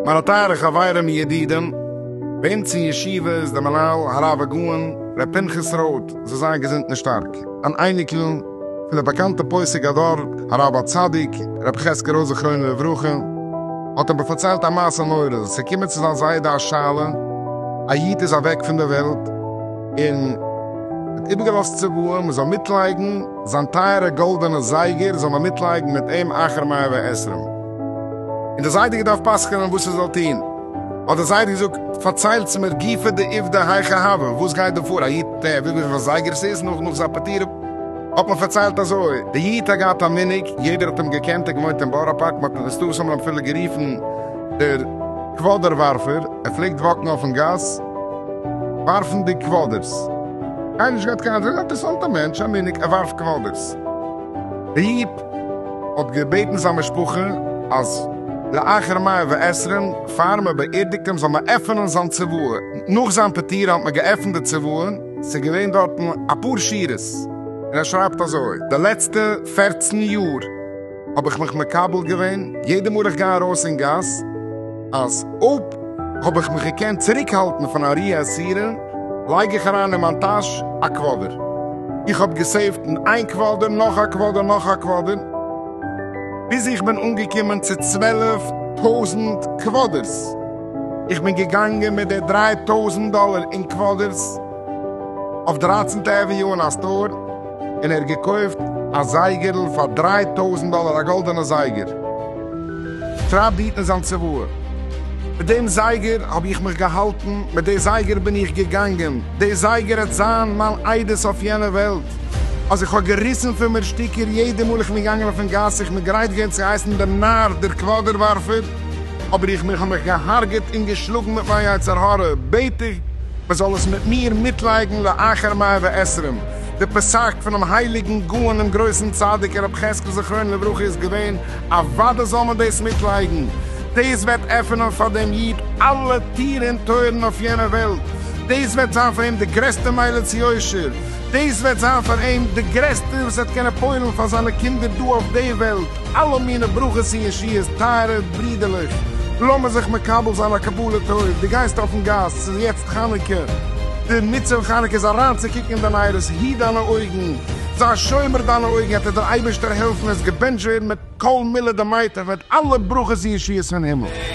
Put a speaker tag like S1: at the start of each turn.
S1: מיינע טייערע חברים ידידים, בעמץ אין ישיבה איז דער מנהל הרב הגאון ר' פנחס רוט זאל זיין געזונט און שטארק, אן אייניקל, פון די באקאנטע פוסק הדור הרב הצדיק רבי חזקי רויזער זכרונו לברכה האט אים פארציילט א מעשה נורא, עס איז געקומען צו זיין זיידע א שאלה, א איד איז אוועק פון די וועלט און האט איבערגעלאזט צוואה מען זאל מיטלייגן זיין טייערע גאלדענע זייגער זאל מען מיטלייגן מיט אים אחר מאה ועשרים און די זיידע געדארפט פסק'נען וואס ער זאל טון, האט די זיידע געזאגט פארציילטס מיר גופא דעובדא היכא הוה, וואס גייט דא פאר, א איד טער וויפיל זייגער עס איז נאך נאך זיין פטירה. האט מען פארציילט אזוי, די איד האט געהאט א מנהג, יעדער האט אים געקענט, ער האט געוואוינט אין בארא פארק, מען האט אים מסתמא אפילו גערופן דער קוואדער ווארפער, ער פלעגט וואקן אויפן גאס ווארפנדיג קוואדערס, קיינער נישט געהאט קיין, אינטערעסאנטע מענטש, א מנהג, ער ווארפט קוואדערס. די איד האט געבעטן זיין משפחה אז לאחר מאה ועשרים פאר מען באערדיגט אים זאל מען עפענען זיין צוואה, נאך זיין פטירה האט מען געעפנט די צוואה, ס'איז געווען דארטן אפאר שורות און ער שרייבט אזוי, די לעצטע פערצן יאר האב איך מיך מקבל געווען יעדע מאל איך גיי ארויס אין גאס, אז אויב האב איך מיך געקענט צוריק האלטן פון א רי עשירה, לייג איך אריין אין מיין טאש א קוואדער. איך האב געסעיווט אין איין קוואדער, נאך א קוואדער, נאך א קוואדער, ביז איך בין אנגעקומען צו צוועלף טויזנט קוואדערס. איך בין געגאנגען מיט די דריי טויזנט דאלער אין קוואדערס אויף דרייצנטע עוויניו אין א סטאר און ער האט געקויפט א זייגערל פאר דריי טויזנט דאלער א גאלדענע זייגער טרייבט די אידן זיין צוואה מיט דעם זייגער האב איך מיך געהאלטן מיט די זייגער בין איך געגאנגען די זייגער העט זיין מיין עדות אויף יענע וועלט אז איך האב געריסן פון מיר שטיקער יעדע מאל איך בין געגאנגען אויפן גאס איך בין גרייט געווען צו הייסן דעם נאר דער קוואדער ווארפער אבער איך מיך האב מיך געהארגעט און געשלאגן מיט מיין יצר הרע, בעט איך מען זאל עס מיט מיר מיטלייגן לאחר מאה ועשרים, די פסק פונעם הייליגן גאון און גרויסן צדיק הרב חזקל זכרונו לברכה איז געווען, אוודאי זאל מען דאס מיטלייגן, דאס וועט עפענען פאר דעם איד אלע טיר און טויערן אויף יענע וועלט, דאס וועט זיין פאר אים די גרעסטע מעלה צו יושר, דאס וועט זיין פאר אים די גרעסטע וואס ער וועט קענען פועל'ן פאר זיינע קינדער דא אויף די וועלט. אלע מינע ברכות און ישועות, טייערע ברידערלעך, לאמיר זיך מקבל זיין א קבלה טוב, דו גייסט אויפן גאס, ס'איז יעצט חנוכה, דער מצוה פון חנוכה איז אריינצוקוקן אין דיין עירות, היט דיינע אויגן, זיי שומר דיינע אויגן, עט עס דער אייבערשטער העלפן, עס געבענטשט ווערן מיט כל מילה דמעיתא, וועט אלע ברכות און ישועות פון הימל.